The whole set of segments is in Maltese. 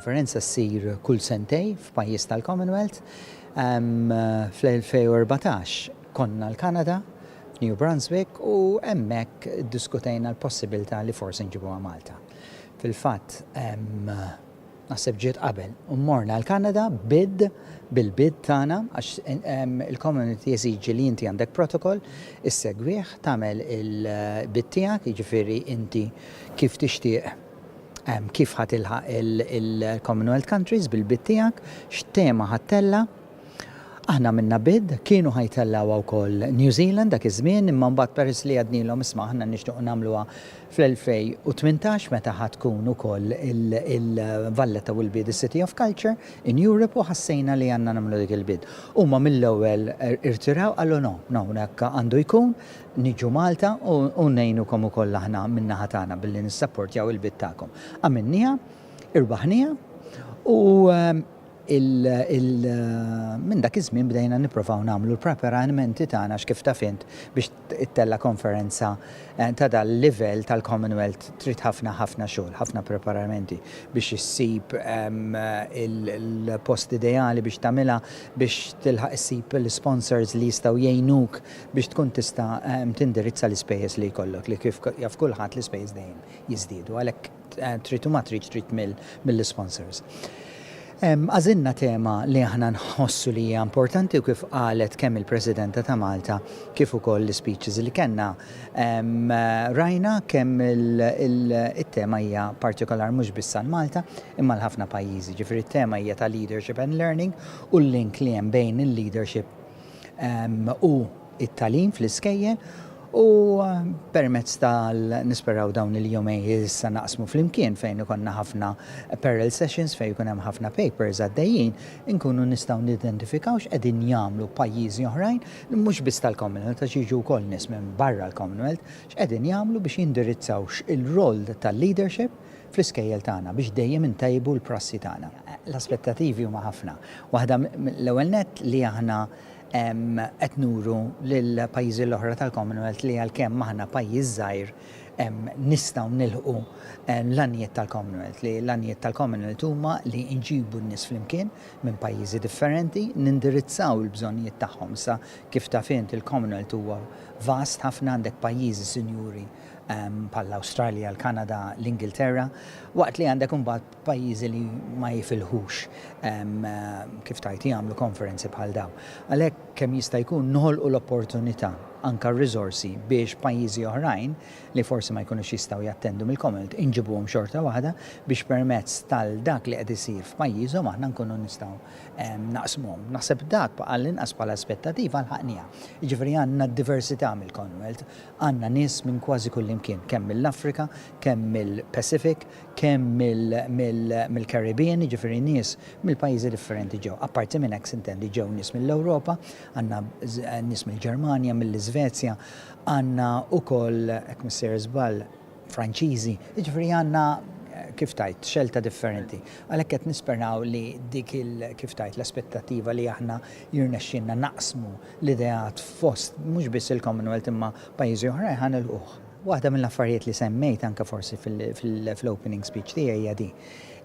Il-konferenza ssir kull sentej f'pajjiż tal-Commonwealth. Fl-2014 konna l-Kanada, f'New Brunswick, u hemmhekk iddiskutejna l-possibilità li forsi nġibuha Malta. Fil-fatt, Naħseb ġiet qabel. U morna l-Kanada bid, bil-bid tagħna, għax il-commonwealth jeżiġi li inti għandek protocol, issegwih, tagħmel il-bid tiegħek, jiġifieri inti kif tixtieq, kif ħa tilħaq il-commonwealth countries bil-bid tiegħek, x'tema ħa ttella', Aħna għamilna bid, kienu ħa jtellgħuha wkoll New Zealand dak iż-żmien imma mbagħad peress li għednilhom isma' aħna nixtiequ nagħmluha fl-2018 meta ħa tkun ukoll il-Valletta Will Be The City of Culture in Europe u ħassejna li għandna nagħmlu dik il-bid. Huma mill-ewwel irtiraw qallu no, no, hekk għandu jkun, niġu Malta u ngħinukom ukoll aħna min-naħa tagħna billi nissapportjaw il-bid tagħkom. Għamilniha, irbaħniha u, Minn dak iż-żmien bdejna nipprovaw nagħmlu l-preparanimenti tagħna għax kif taf int biex ittella' konferenza ta' dal-livell tal-Commonwealth trid ħafna ħafna xogħol, ħafna preparamenti biex issib il-post ideali biex tagħmilha, biex tilħaq issib l-isponsors li jistgħu jgħinuk biex tkun tista' tindirizza l-ispejjeż li jkollok li kif jaf kulħadd l-ispejjeż dejjem jiżdiedu għalhekk. Trid u ma tridx trid mill-isponsors. Għażilna tema li aħna nħossu li hija importanti u kif qalet kemm il-Presidenta ta' Malta kif ukoll l-ispeeches li kellna rajna kemm it-tema hija partikolar mhux biss għal Malta imma għal ħafna pajjiżi. Ġifieri t-tema hija ta' leadership and learning u l-link li hemm bejn il-leadership u it-tagħlim fl-iskejjel u permezz ta' nisperaw dawn il-jumej issa naqsmu flimkien fejn ikonna ħafna parallel sessions fejn ikun hemm ħafna papers għaddejjin inkunu nistgħu nidentifikaw x'qegħdin jagħmlu pajjiżi oħrajn mhux biss tal-Commonwealth għax jiġu wkoll nies minn barra l-Commonwealth x'qegħdin jagħmlu biex jindirizzaw x'il-role tal-leadership fl-iskejjel tagħna biex dejjem intejbu l-prassi tagħna. L-aspettativi huma ħafna. Waħda l-ewwel nett li aħna Qed nuru lill-pajjiżi l-oħra tal-Commonwealth li għalkemm aħna pajjiż żgħir nistgħu nilħqu l-għanijiet tal-Commonwealth, li l-għanijiet tal-Commonwealth huma li nġibu n-nies flimkien minn pajjiżi differenti, nindirizzaw il-bżonnijiet tagħhom. Issa, kif taf int, il-Commonwealth huwa vast ħafna, għandek pajjiżi sinjuri bħall-Awstralja, l-Kanada, l-Ingilterra, waqt li għandek imbagħad Pajjiżi li ma jifilħux kif tgħid jagħmlu konferenzi bħal dawn. Għalhekk kemm jista' jkun noħolqu l-opportunità, anke r-riżorsi biex pajjiżi oħrajn li forsi ma jkunux jistgħu jattendu mill-Commonwealth inġibuhom xorta waħda biex permezz tal dak li qed isir f'pajjiżhom aħna nkunu nistgħu naqsmuhom. Naħseb dak għall-inqas bħala aspettativa lħaqniha. Jiġifieri għandna d-diversità mill-Commonwealth, għandna nies minn kważi kullimkien, kemm mill-Afrika, kemm mill-Pacific, kemm mill-Caribbean, jiġifieri nies mill-pajjiżi differenti ġew. Apparti minn hekk, sintendi, ġew nies mill-Ewropa, għandna nies mill-Ġermanja, mill-Iżvezja, għandna wkoll, jekk mhux sejjer żball, Franċiżi, jiġifieri għandna, kif tgħid, xelta differenti. Għalhekk qed nisperaw li dik il, kif tgħid, l-aspettattiva li aħna jirnexxielna naqsmu l-ideat fost mhux biss il-Commonwealth imma pajjiżi oħrajn ħa nilħquh. Waħda mill-affarijiet li semmejt anke forsi fl-opening speech tiegħi hija din,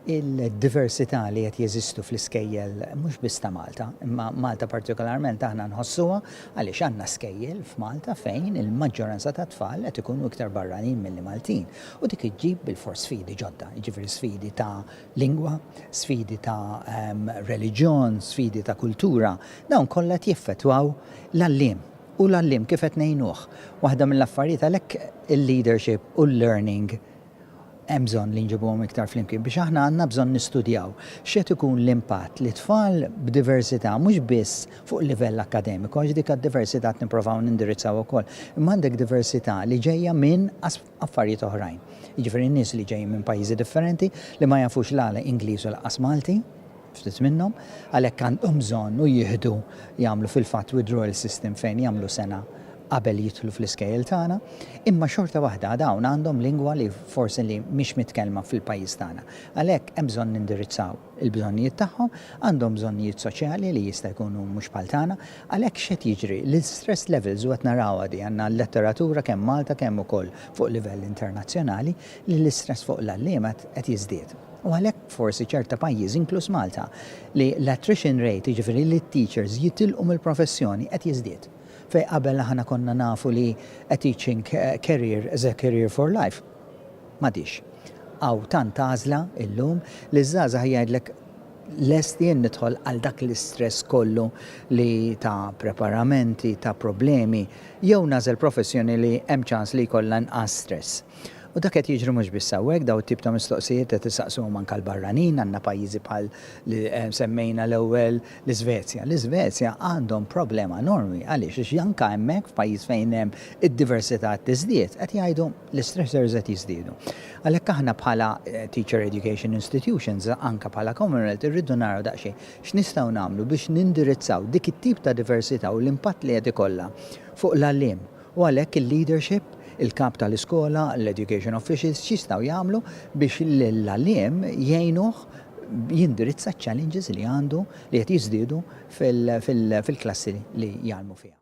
il-diversità li qed jeżistu fl-iskejjel mhux biss ta' Malta, imma Malta partikolarment aħna nħossuha għaliex għandna skejjel f'Malta fejn il-maġġoranza tat-tfal qed ikunu iktar barranin milli Maltin u dik iġġib bilfors sfidi ġodda, jiġifieri sfidi ta' lingwa, sfidi ta' reliġjon, sfidi ta' kultura, dawn kollha qed jeffettwaw l-għalliem. U l-għalliem kif qed ngħinuh? Waħda mill-affarijiet għalhekk il-leadership u l-learning hemm bżonn li nġibuhom iktar flimkien biex aħna għandna bżonn nistudjaw x'qed ikun l-impatt li tfal b'diversità mhux biss fuq livell akkademiku għax dik għad-diversità qed nipprovaw nindirizzaw ukoll imma għandek diversità li ġejja minn affarijiet oħrajn. Jiġifieri nies li ġejjin minn pajjiżi differenti li ma jafux la Ingliż u lanqas Malti, ftit minnhom, għalhekk għandhom bżonn u jieħdu jagħmlu fil-fatt withdrawal system fejn jagħmlu sena qabel jidħlu fl-iskejjel tagħna, imma xorta waħda dawn għandhom lingwa li forsi li mhix mitkellma fil-pajjiż tagħna. Għalhekk hemm bżonn nindirizzaw. il-bżonnijiet tagħhom, għandhom bżonnijiet soċjali li jista' jkunu mhux bħal tagħna, għalhekk x'qed jiġri? L-istress levels u qed narawha di, għandna l-letteratura kemm Malta kemm ukoll fuq livell internazzjonali li l-istress fuq l-għalliema qed jiżdied. U għalhekk forsi ċerta pajjiżi inkluż Malta li l-attrition rate, jiġifieri li t-teachers jitilqu mill-professjoni qed jiżdied. Fejn qabel aħna konna nafu li a teaching career is a career for life. M'għadix. Hawn tant għażla illum li ż-żgħażagħ jgħidlek lest jien nidħol għal dak l-istress kollu li ta' preparamenti, ta' problemi, jew nagħżel professjoni li hemm ċans li jkollha inqas stress. U dak qed jiġri mhux biss hawnhekk, dawn it-tip ta' mistoqsijiet qed isaqsuhom anke l-barranin, għandna pajjiżi bħal li semmejna l-ewwel l-Isvezja. L-Isvezja għandhom problema enormi, għaliex? Għax anke hemmhekk f'pajjiż fejn hemm id-diversità qed tiżdied, qed jgħidu, l-istressors qed jiżdiedu. Għalhekk aħna bħala teacher education institutions, anke bħala Commonwealth, irridu naraw daqsxejn x'nistgħu nagħmlu biex nindirizzaw dik it-tip ta' diversità u l-impatt li qed ikollha fuq l-għalliem. U għalhekk il-leadership, il-kap tal-iskola, l-education officials x'jistgħu jagħmlu biex lill-għalliem jgħinuh jindirizza ċ-challenges li għandu li qed jiżdiedu fil-klassi li jgħallmu fiha.